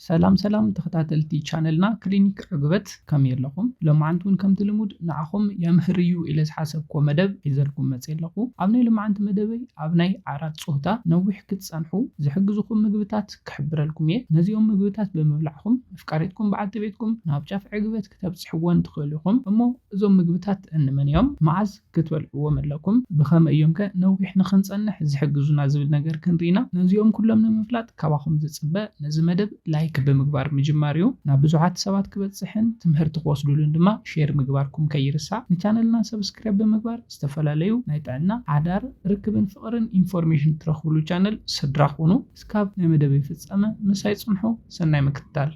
ሰላም ሰላም ተኸታተልቲ ቻነልና ክሊኒክ ዕግበት ከመይ ኣለኹም? ሎማዓንቲ ውን ከምቲ ልሙድ ንዓኹም የምህር እዩ ኢለ ዝሓሰብኩዎ መደብ ሒዘልኩም መፅየ ኣለኹ። ኣብ ናይ ሎማዓንቲ መደበይ ኣብ ናይ ዓራት ፆህታ ነዊሕ ክትፀንሑ ዝሕግዙኹም ምግብታት ክሕብረልኩም እየ። ነዚኦም ምግብታት ብምብላዕኹም መፍቃሪትኩም በዓልቲ ቤትኩም ናብ ጫፍ ዕግበት ክተብፅሕወን ትኽእሉ ኢኹም። እሞ እዞም ምግብታት እንመን እዮም? መዓዝ? ክትበልዕዎም ኣለኩም። ብኸመይ እዮምከ ነዊሕ ንኽንጸንሕ ዝሕግዙና ዝብል ነገር ክንርኢ ኢና። ነዚኦም ኩሎም ንምፍላጥ ካባኹም ዝጽበ ነዚ መደብ ላይክ ብምግባር ምጅማር እዩ። ናብ ብዙሓት ሰባት ክበጽሕን ትምህርቲ ክወስድሉን ድማ ሼር ምግባርኩም ከይርሳዕ። ንቻነልና ሰብስክራይብ ብምግባር ዝተፈላለዩ ናይ ጥዕና፣ ሓዳር፣ ርክብን ፍቕርን ኢንፎርሜሽን ትረኽብሉ ቻነል ስድራ ኩኑ። እስካብ ናይ መደበይ ፍጻመ ምሳይ ጽንሑ። ሰናይ ምክትታል።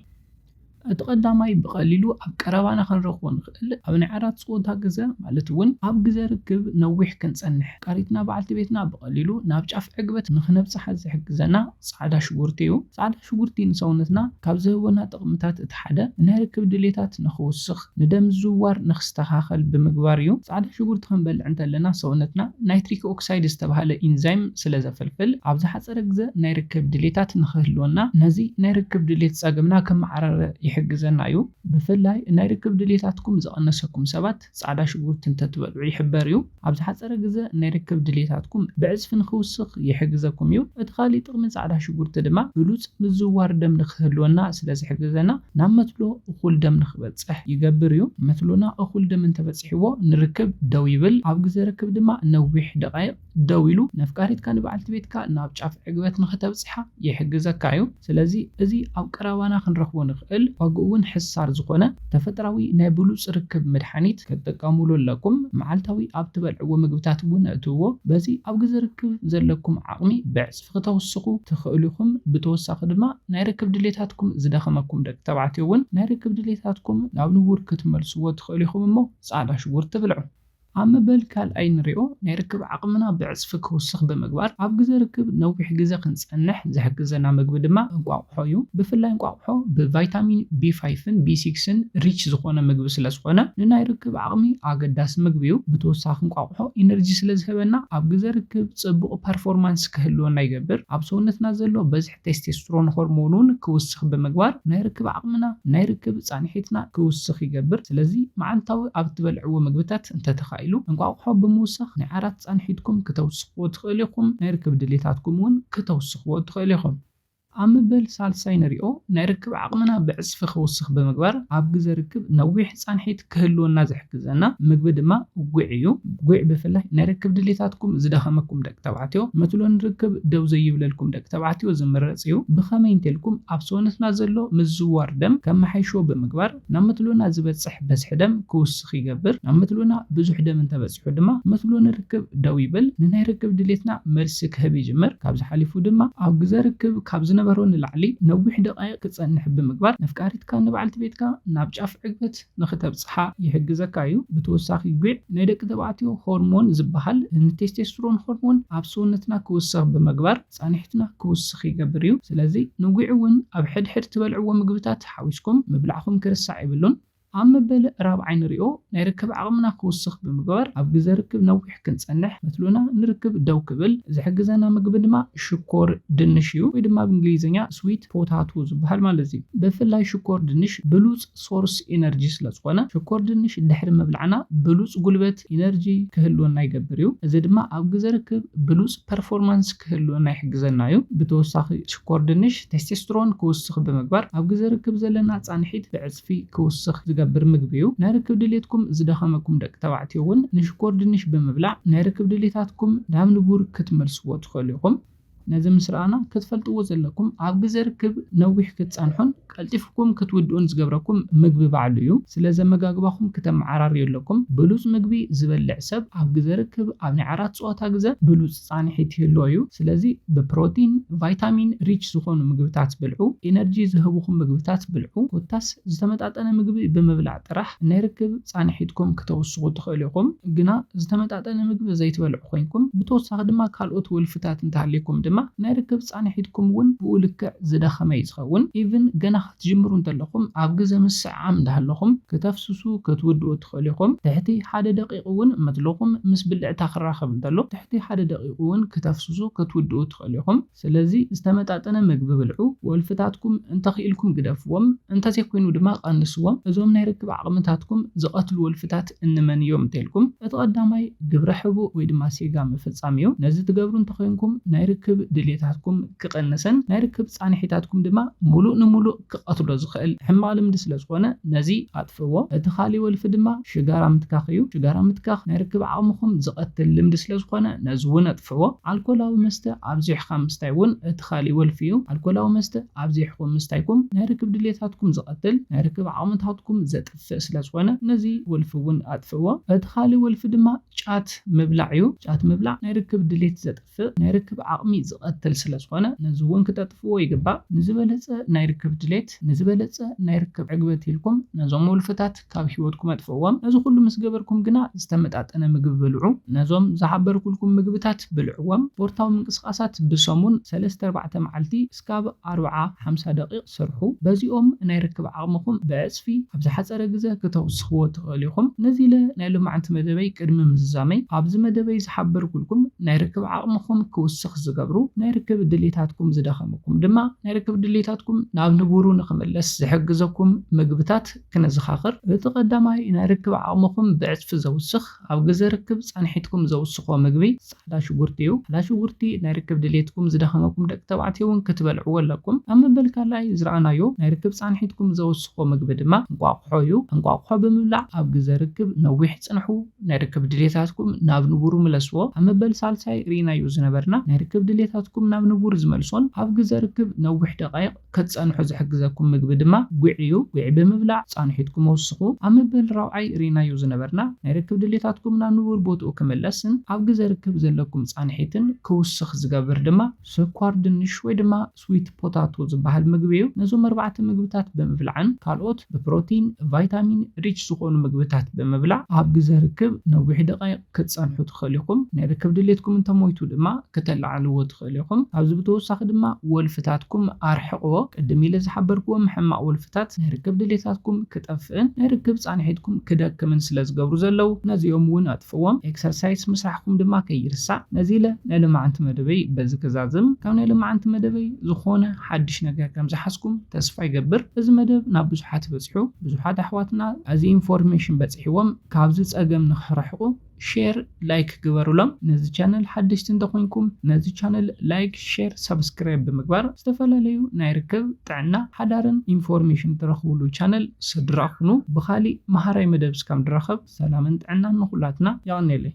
እቲ ቀዳማይ ብቐሊሉ ኣብ ቀረባና ክንረኽቦ ንኽእል ኣብ ናይ ዓራት ጸወታ ግዘ ማለት እውን ኣብ ግዘ ርክብ ነዊሕ ክንጸንሕ ቃሪትና በዓልቲ ቤትና ብቐሊሉ ናብ ጫፍ ዕግበት ንኽነብጽሓ ዝሕግዘና ጻዕዳ ሽጉርቲ እዩ። ጻዕዳ ሽጉርቲ ንሰውነትና ካብ ዝህቡና ጥቕምታት እቲ ሓደ ናይ ርክብ ድሌታት ንኽውስኽ፣ ንደም ምዝውዋር ንክስተኻኸል ብምግባር እዩ። ጻዕዳ ሽጉርቲ ክንበልዕ እንተለና ሰውነትና ናይትሪክ ኦክሳይድ ዝተባህለ ኢንዛይም ስለ ዘፍልፍል ኣብ ዝሓጸረ ግዘ ናይ ርክብ ድሌታት ንክህልወና ነዚ ናይ ርክብ ድሌት ጸገምና ክመዓረረ ይሕግዘና እዩ። ብፍላይ ናይ ርክብ ድሌታትኩም ዝቐነሰኩም ሰባት ጻዕዳ ሽጉርቲ እንተትበልዑ ይሕበር እዩ። ኣብ ዝሓጸረ ግዘ ናይ ርክብ ድሌታትኩም ብዕጽፊ ንኽውስኽ ይሕግዘኩም እዩ። እቲ ካሊእ ጥቕሚ ጻዕዳ ሽጉርቲ ድማ ብሉጽ ምዝውዋር ደም ንኽህልወና ስለ ዝሕግዘና ናብ መትሎ እኹል ደም ንኽበጽሕ ይገብር እዩ። መትሎና እኹል ደም እንተበጺሕዎ ንርክብ ደው ይብል፣ ኣብ ግዘ ርክብ ድማ ነዊሕ ደቓይቕ ደው ኢሉ ነፍቃሪትካ ንበዓልቲ ቤትካ ናብ ጫፍ ዕግበት ንኽተብጽሓ ይሕግዘካ እዩ። ስለዚ እዚ ኣብ ቀረባና ክንረኽቦ ንኽእል ዋግኡ'ውን ሕሳር ዝኾነ ተፈጥራዊ ናይ ብሉጽ ርክብ መድሓኒት ክትጥቀሙሉ ኣለኩም። መዓልታዊ ኣብ ትበልዕዎ ምግብታት እውን ኣእትውዎ። በዚ ኣብ ግዘ ርክብ ዘለኩም ዓቕሚ ብዕጽፊ ክተውስኹ ትኽእሉ ኢኹም። ብተወሳኺ ድማ ናይ ርክብ ድሌታትኩም ዝደኸመኩም ደቂ ተባዕትዮ እውን ናይ ርክብ ድሌታትኩም ናብ ንቡር ክትመልስዎ ትኽእሉ ኢኹም እሞ ጻዕዳ ሽጉርቲ ብልዑ። ኣብ መበል ካልኣይ ንሪኦ ናይ ርክብ ዓቕምና ብዕፅፊ ክውስኽ ብምግባር ኣብ ግዘ ርክብ ነዊሕ ግዘ ክንፀንሕ ዝሕግዘና ምግቢ ድማ እንቋቑሖ እዩ። ብፍላይ እንቋቑሖ ብቫይታሚን ቢ ፋይቭን ቢ ሲክስን ሪች ዝኾነ ምግቢ ስለዝኾነ ንናይ ርክብ ዓቕሚ ኣገዳሲ ምግቢ እዩ። ብተወሳኺ እንቋቑሖ ኢነርጂ ስለዝህበና ኣብ ግዘ ርክብ ፅቡቕ ፐርፎርማንስ ክህልወና ይገብር። ኣብ ሰውነትና ዘሎ በዝሒ ቴስቴስትሮን ሆርሞን'ውን ክውስኽ ብምግባር ናይ ርክብ ዓቕምና፣ ናይ ርክብ ፃኒሒትና፣ ክውስኽ ይገብር። ስለዚ መዓልታዊ ኣብ እትበልዕዎ ምግብታት እንተተኻኢሉ እንቋቑሖ ብምውሳኽ ናይ ዓራት ፃንሒትኩም ክተውስኽዎ ትኽእሉ ኢኹም፣ ናይ ርክብ ድሌታትኩም እውን ክተውስኽዎ ትኽእሉ ኢኹም። ኣብ ምበል ሳልሳይ ንሪኦ ናይ ርክብ ዓቕምና ብዕፅፊ ክውስኽ ብምግባር ኣብ ግዘ ርክብ ነዊሕ ፃንሒት፣ ክህልወና ዝሕግዘና ምግቢ ድማ ጒዕ እዩ። ጒዕ ብፍላይ ናይ ርክብ ድሌታትኩም ዝደኸመኩም ደቂ ተባዕትዮ፣ መትሎ ንርክብ ደው ዘይብለልኩም ደቂ ተባዕትዮ ዝምረጽ እዩ። ብኸመይ እንተልኩም ኣብ ሰውነትና ዘሎ ምዝዋር ደም ከመሓይሾ ብምግባር ናብ መትሎና ዝበጽሕ በዝሒ ደም ክውስኽ ይገብር። ናብ መትሎና ብዙሕ ደም እንተበጺሑ ድማ መትሎ ንርክብ ደው ይብል፣ ንናይ ርክብ ድሌትና መልሲ ክህብ ይጅምር። ካብዚ ሓሊፉ ድማ ኣብ ግዘ ርክብ ካብ ዝነበሮ ንላዕሊ ነዊሕ ደቓይቕ ክጸንሕ ብምግባር ነፍቃሪት ቃንዛኻ ንበዓልቲ ቤትካ ናብ ጫፍ ዕግበት ንኽተብጽሓ ይሕግዘካ እዩ። ብተወሳኺ ጒዕ ናይ ደቂ ተባዕትዮ ሆርሞን ዝበሃል ንቴስቴስትሮን ሆርሞን ኣብ ሰውነትና ክውስኽ ብምግባር ጻኒሕትና ክውስኽ ይገብር እዩ። ስለዚ ንጒዕ እውን ኣብ ሕድሕድ ትበልዕዎ ምግብታት ሓዊስኩም ምብላዕኹም ክርሳዕ የብሉን። ኣብ መበል ራብዓይ ንሪኦ ናይ ርክብ ዓቕምና ክውስኽ ብምግባር ኣብ ግዘ ርክብ ነዊሕ ክንጸንሕ ፈትሉና ንርክብ ደው ክብል ዝሕግዘና ምግቢ ድማ ሽኮር ድንሽ እዩ ወይ ድማ ብ እንግሊዝኛ Sweet Potato ዝብሃል ማለት እዩ። ብፍላይ ሽኮር ድንሽ ብሉጽ ሶርስ ኢነርጂ ስለ ዝኾነ ሽኮር ድንሽ ድሕሪ ምብላዕና ብሉጽ ጉልበት፣ ኢነርጂ፣ ክህልወና ይገብር እዩ። እዚ ድማ ኣብ ግዘ ርክብ ብሉጽ ፐርፎርማንስ ክህልወና ይሕግዘና እዩ። ብተወሳኺ ሽኮር ድንሽ ቴስቴስትሮን ክውስኽ ብምግባር ኣብ ግዘ ርክብ ዘለና ጻንሒት ብዕጽፊ ጸቕጢ ክውስኽ ዝገብር ምግቢ'ዩ። ናይ ርክብ ድሌትኩም ዝደኸመኩም ደቂ ተባዕትዮ እውን ንሽኮር ድንሽ ብምብላዕ ናይ ርክብ ድሌታትኩም ናብ ንቡር ክትመልስዎ ትኽእሉ ኢኹም። ነዚ ምስ ረኣና ክትፈልጥዎ ዘለኩም ኣብ ግዘ ርክብ ነዊሕ ክትጸንሑን ቀልጢፍኩም ክትውድኡን ዝገብረኩም ምግቢ ባዕሉ እዩ። ስለዚ ኣመጋግባኹም ክተመዓራርዩ ኣለኩም። ብሉጽ ምግቢ ዝበልዕ ሰብ ኣብ ግዘ ርክብ ኣብ ናይ ዓራት ጸወታ ግዘ ብሉጽ። ፃንሒት ይህልዎ እዩ። ስለዚ ብፕሮቲን፣ ቫይታሚን ሪች ዝኾኑ ምግብታት ብልዑ፣ ኢነርጂ ዝህቡኹም ምግብታት ብልዑ ኮታስ ዝተመጣጠነ ምግቢ ብምብላዕ ጥራሕ ናይ ርክብ ፃንሒትኩም ክተውስኹ ትኽእሉ ኢኹም። ግና ዝተመጣጠነ ምግቢ ዘይትበልዑ ኮይንኩም ብተወሳኺ ድማ ካልኦት ወልፍታት እንተሃልይኩም ድማ ናይ ርክብ ፃንሒትኩም እውን ብኡ ልክዕ ዝደኸመ እዩ ዝኸውን። ኢቭን ገና ክትጅምሩ እንተለኹም ኣብ ግዘ ምስዕዓም እንዳሃለኹም ክተፍስሱ ክትውድኡ ትኽእሉ ኢኹም። ትሕቲ ሓደ ደቂቕ እውን መትልኹም ምስ ብልዕታ ክራኸብ እንተሎ ትሕቲ ሓደ ደቂቕ እውን ክተፍስሱ ክትውድኡ ትኽእሉ ኢኹም። ስለዚ ዝተመጣጠነ ምግቢ ብልዑ። ወልፍታትኩም እንተኽኢልኩም ግደፍዎም እንተዘይኮይኑ ድማ ቀንስዎም። እዞም ናይ ርክብ ዓቕምታትኩም ዝቐትሉ ወልፍታት ኣማልክት እንመን እዮም እንተልኩም እቲ ቀዳማይ ግብረ ሕቡእ ወይ ድማ ሴጋ ምፍጻም እዩ። ነዚ ትገብሩ እንተኾይንኩም ናይ ርክብ ድልየታትኩም ክቕንሰን ናይ ርክብ ጻንሒታትኩም ድማ ሙሉእ ንሙሉእ ክቐትሎ ዝኽእል ሕማቕ ልምዲ ስለ ዝኾነ ነዚ ኣጥፍእዎ። እቲ ካሊእ ወልፊ ድማ ሽጋራ ምትካኽ እዩ። ሽጋራ ምትካኽ ናይ ርክብ ዓቕምኹም ዝቐትል ልምዲ ስለ ዝኾነ ነዚ እውን ኣጥፍእዎ። ኣልኮላዊ መስተ ኣብዚሕካ ምስታይ እውን እቲ ካሊእ ወልፊ እዩ። ኣልኮላዊ መስተ ኣብዚሕኹም ምስታይኩም ናይ ርክብ ድልየታትኩም ዝቐትል ናይ ርክብ ዓቕምታትኩም ዘጥፍእ፣ ዝጠፍእ ስለ ዝኾነ ነዚ ወልፊ እውን ኣጥፍእዎ። እቲ ካልእ ወልፊ ድማ ጫት ምብላዕ እዩ። ጫት ምብላዕ ናይ ርክብ ድሌት ዘጥፍእ፣ ናይ ርክብ ዓቕሚ ዝቐትል ስለ ዝኾነ ነዚ እውን ክተጥፍእዎ ይግባእ። ንዝበለፀ ናይ ርክብ ድሌት፣ ንዝበለፀ ናይ ርክብ ዕግበት ኢልኩም ነዞም ወልፍታት ካብ ህይወትኩም ኣጥፍእዎም። ነዚ ኩሉ ምስ ገበርኩም ግና ዝተመጣጠነ ምግቢ ብልዑ። ነዞም ዝሓበርኩልኩም ምግብታት ብልዕዎም። ስፖርታዊ ምንቅስቓሳት ብሰሙን ሰለስተ ኣርባዕተ መዓልቲ ክሳብ ኣርብዓ ሓምሳ ደቒቕ ስርሑ። በዚኦም ናይ ርክብ ዓቕምኹም ብዕጽፊ ኣብ ዝሓጸረ ግዘ ክተውስኽዎ ትኽእሉ ኢኹም። ነዚ ኢለ ናይ ሎማዕንቲ መደበይ ቅድሚ ምዝዛመይ፣ ኣብዚ መደበይ ዝሓበርኩልኩም ናይ ርክብ ዓቕምኹም ክውስኽ ዝገብሩ ናይ ርክብ ድሌታትኩም ዝደኸሙኩም ድማ ናይ ርክብ ድሌታትኩም ናብ ንቡሩ ንኽምለስ ዝሕግዘኩም ምግብታት ክነዘኻኽር። እቲ ቀዳማይ ናይ ርክብ ዓቕምኹም ብዕጽፊ ዘውስኽ። ኣብ ግዘ ርክብ ፃንሒትኩም ዘውስኾ ምግቢ ፃዕዳ ሽጉርቲ እዩ። ፃዕዳ ሽጉርቲ ናይ ርክብ ድሌትኩም ዝደኸመኩም ደቂ ተባዕትዮ እውን ክትበልዕዎ ኣለኩም። ኣብ መበል ካልኣይ ዝረኣናዮ ናይ ርክብ ፃንሒትኩም ዘውስኾ ምግቢ ድማ እንቋቑሖ እዩ። እንቋቑሖ ብምብላዕ ኣብ ግዘ ርክብ ነዊሕ ፅንሑ፣ ናይ ርክብ ድሌታትኩም ናብ ንቡሩ ምለስዎ። ኣብ መበል ሳልሳይ ርኢናዮ ዝነበርና ናይ ርክብ ድሌታትኩም ናብ ንቡር ዝመልሶን ኣብ ግዘ ርክብ ነዊሕ ደቓይቕ፣ ክትጸንሑ ዝሕግዘኩም ምግቢ ድማ ጒዕ እዩ። ጒዕ ብምብላዕ ጻንሒትኩም ኣውስኹ። ኣብ መበል ራብዓይ ርኢናዮ ዝነበርና፣ ናይ ርክብ ድሌታትኩም ናብ ንቡር ቦትኡ ክምለስን ኣብ ግዘ ርክብ ዘለኩም ጻንሒትን ክውስኽ ዝገብር ድማ ስኳር ድንሽ ወይ ድማ ስዊት ፖታቶ ዝበሃል ምግቢ እዩ። ነዞም ኣርባዕተ ምግብታት ብምብላዕን ካልኦት ብፕሮቲን፣ ቫይታሚን ሪች ዝኾኑ ምግብታት ብምብላዕ ኣብ ግዘ ርክብ ነዊሕ ደቓይቕ፣ ክትጸንሑ ትኽእሉ ኢኹም። ናይ ርክብ ድሌትኩም እንተ ሞይቱ ድማ ክተለዓዕልዎ ትኽእሉ ኢኹም። ካብዚ ብተወሳኺ ድማ ወልፍታትኩም ኣርሕቕዎ። ቅድም ኢለ ዝሓበርክዎም ሕማቕ ወልፍታት ናይ ርክብ ድሌታትኩም ክጠፍእን ናይ ርክብ ጻንሒትኩም ክደክምን ስለ ዝገብሩ ዘለዉ ነዚኦም እውን ኣጥፍእዎም። ኤክሰርሳይስ ምስራሕኩም ድማ ከይርሳዕ። ነዚ ኢለ ናይ ሎማዕንቲ መደበይ በዚ ክዛዝም። ካብ ናይ ሎማዕንቲ መደበይ ዝኾነ ሓድሽ ነገር ከም ዝሓዝኩም ተስፋ ይገብር። እዚ መደብ ናብ ብዙሓት በጺሑ። ብዙሓት ኣሕዋትና እዚ ኢንፎርሜሽን በጺሕዎም። ካብዚ ጸገም ንክሕርሕቁ ሼር ላይክ ግበሩሎም ነዚ ቻነል ሓደሽቲ እንተኮንኩም ነዚ ቻነል ላይክ ሼር ሳብስክራይብ ብምግባር ዝተፈላለዩ ናይ ርክብ ጥዕና ሓዳርን ኢንፎርሜሽን ትረክብሉ ቻነል ስድራ ኩኑ ብካሊእ መሃራይ መደብ እስካብ ንራከብ ሰላምን ጥዕናን ንኩላትና የቀኔለይ።